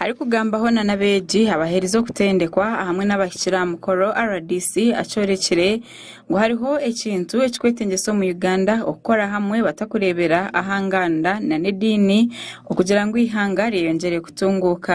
Arikugambaho na n'abeegi abaherize okutendekwa ahamwe n'abahikire aha mukoro, rdc akyorekire ngu hariho ekintu ekirikwetengyesa omu Uganda okukora hamwe batakureebera aha nganda na n'ediini okugira ngu eihanga ryeyongyere kutunguuka.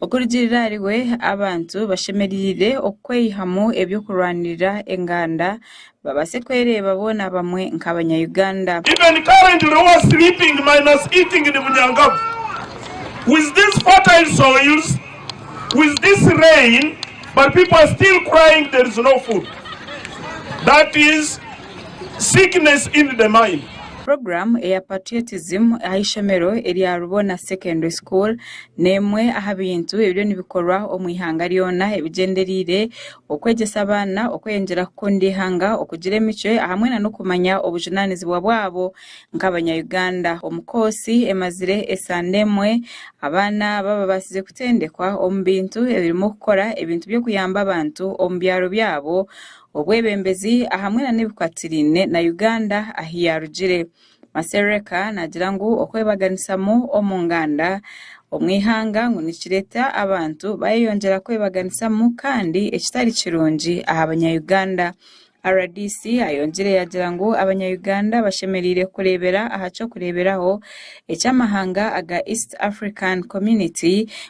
Okurugiirira ahari we, abantu bashemereire okweyihamu eby'okurwanirira enganda babaase kwereeba boona bamwe nk'abanya-Uganda. Even currently who are sleeping minus eating in Bunyangavu with these fertile soils, with this rain but people are still crying there is no food that is sickness in the mind. Program eya Patriotism aha ishomero erya Rubona Secondary School n'emwe aha bintu ebiriyo nibikorwa omu ihanga ryona ebigyendereire okwegyesa abaana okweyongyera kukunda eihanga, okugira emicwe hamwe nana okumanya obujunaanizibwa bwabo nk'abanya Uganda. Omu koosi emazire esande emwe, abaana aba babaasize kutendekwa omu bintu ebirimu okukora ebintu by'okuyamba abantu omu byaro byabo, obwebembezi ahamwe nana ebikwatirine na Uganda ahu yaarugire. Masereka naagira ngu okwebaganisamu omu nganda omu ihanga ngu nikireeta abantu baayeyongyera kwebaganisamu kandi ekitari kirungi aha banya-Uganda. Rdc ayongyire yaagira ngu abanya-Uganda bashemereire kureebera aha ky'okureeberaho eky'amahanga aga East African Community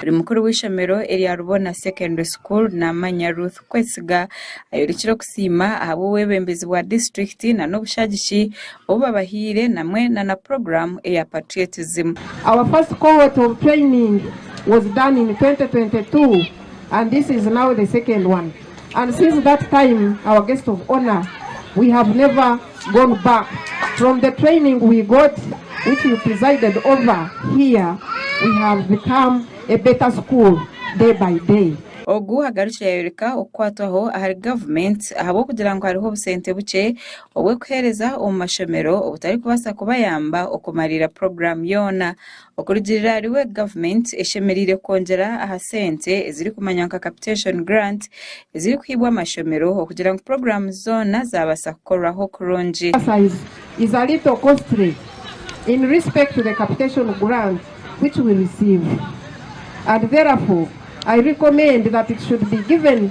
Buri mukuru w'eishomero erya Rubona Secondary School naamanya Ruth Kwesiga ayorikire okusiima ahabw'obwebembezi bwa disiturikiti nana obushagiki obu babahaire namwe nana puroguramu eya Patriotism. Our first cohort of training was done in twenty twenty two and this is now the second one. and since that time our guest of honour we have never gone back from the training we got which you presided over here we have become a better school day by day. Ogu agarukire yayoreka okukwatwaho ahari government ahabw'okugira ngu hariho obusente bukye obw'okuhereza omu mashomero obutarikubaasa kubayamba okumariira program yoona Okurugiirira ahariwe gavumenti eshemereire kwongyera aha sente ezirikumanywa nka Capitation Grant ezirikuhibwa amashomero okugira ngu puroguramu zoona zaabaasa kukorwaho kurungi. emphasize is a little costly in respect to the capitation grant which we receive and therefore I recommend that it should be given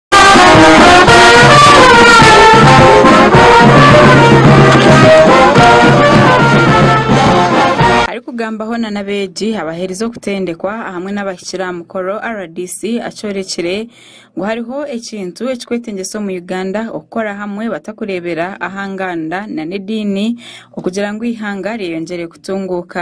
Arikugamba hoona n'abeegi abaherize okutendekwa ahamwe n'abahikire aha mukoro, rdc akyorekire ngu hariho ekintu ekirikwetengyesa omu Uganda okukora hamwe batakureebera aha nganda nana ediini okugira ngu eihanga ryeyongyere kutunguuka.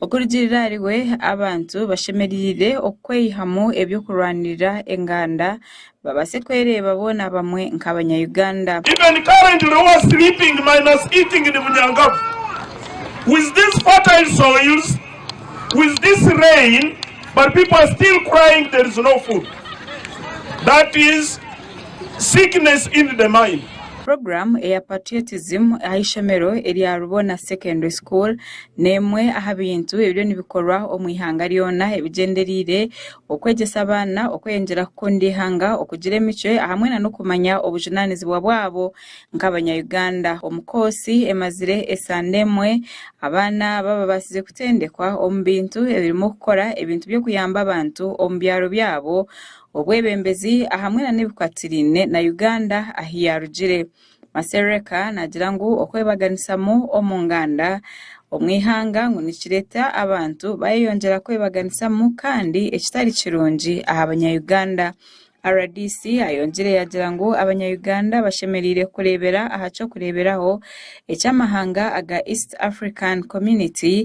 Okurugiirira ahari we, abantu bashemereire okweyihamu eby'okurwanirira enganda babaase kwereeba boona bamwe nk'abanya-Uganda. Even currently who are sleeping minus eating in Bunyangavu with these fertile soils, with this rain but people are still crying there is no food. That is sickness in the mind. Program eya Patriotism aha ishomero erya Rubona Secondary School N'emwe aha bintu ebiriyo nibikorwa omu ihanga ryona ebigyendereire okwegyesa abaana okweyongyera kukunda eihanga, okugira emicwe ahamwe nana okumanya obujunanizibwa bwabo nk'abanya Uganda. Omu koosi emazire esande emwe, abaana aba babaasize kutendekwa omu bintu ebirimu okukora ebintu by'okuyamba abantu omu byaro byabo, obwebembezi ahamwe nana ebikwatirine na Uganda ahu yarugire. Masereka naagira ngu okwebaganisamu omu nganda omu ihanga ngu nikireeta abantu baayeyongyera kwebaganisamu kandi ekitari kirungi aha banya-Uganda. Rdc ayongyire yaagira ngu abanya-Uganda bashemereire kureebera aha ky'okureeberaho eky'amahanga aga East African Community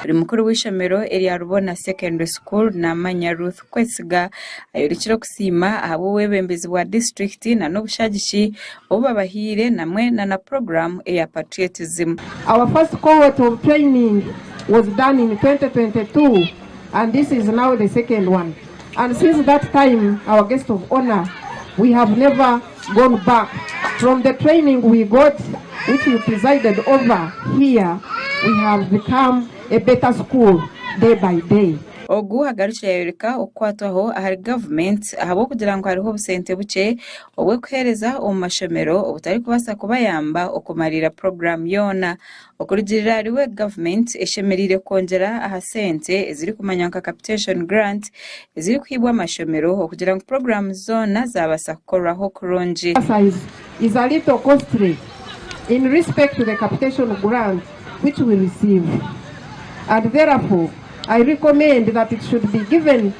Buri mukuru w'eishomero erya Rubona Secondary School naamanya Ruth Kwesiga ayorikire okusiima ahabw'obwebembezi bwa disiturikiti nana obushagiki obu babahaire namwe nana puroguramu eya Patriotism. Our first cohort of training was done in twenty twenty two and this is now the second one and since that time our guest of honour we have never gone back from the training we got which you presided over here we have become a better school day by day. Ogu agarukire yayoreka okukwatwaho ahari government ahabw'okugira ngu hariho obusente bukye obw'okuhereza omu mashomero obutarikubaasa kubayamba okumariira program yoona. Okurugiirira ahariwe gavumenti eshemereire kwongyera aha sente ezirikumanywa nka Capitation Grant ezirikuhaibwa amashomero okugira ngu puroguramu zoona zaabaasa kukorwaho kurungi. emphasize is a little costly in respect to the capitation grant which we receive and therefore I recommend that it should be given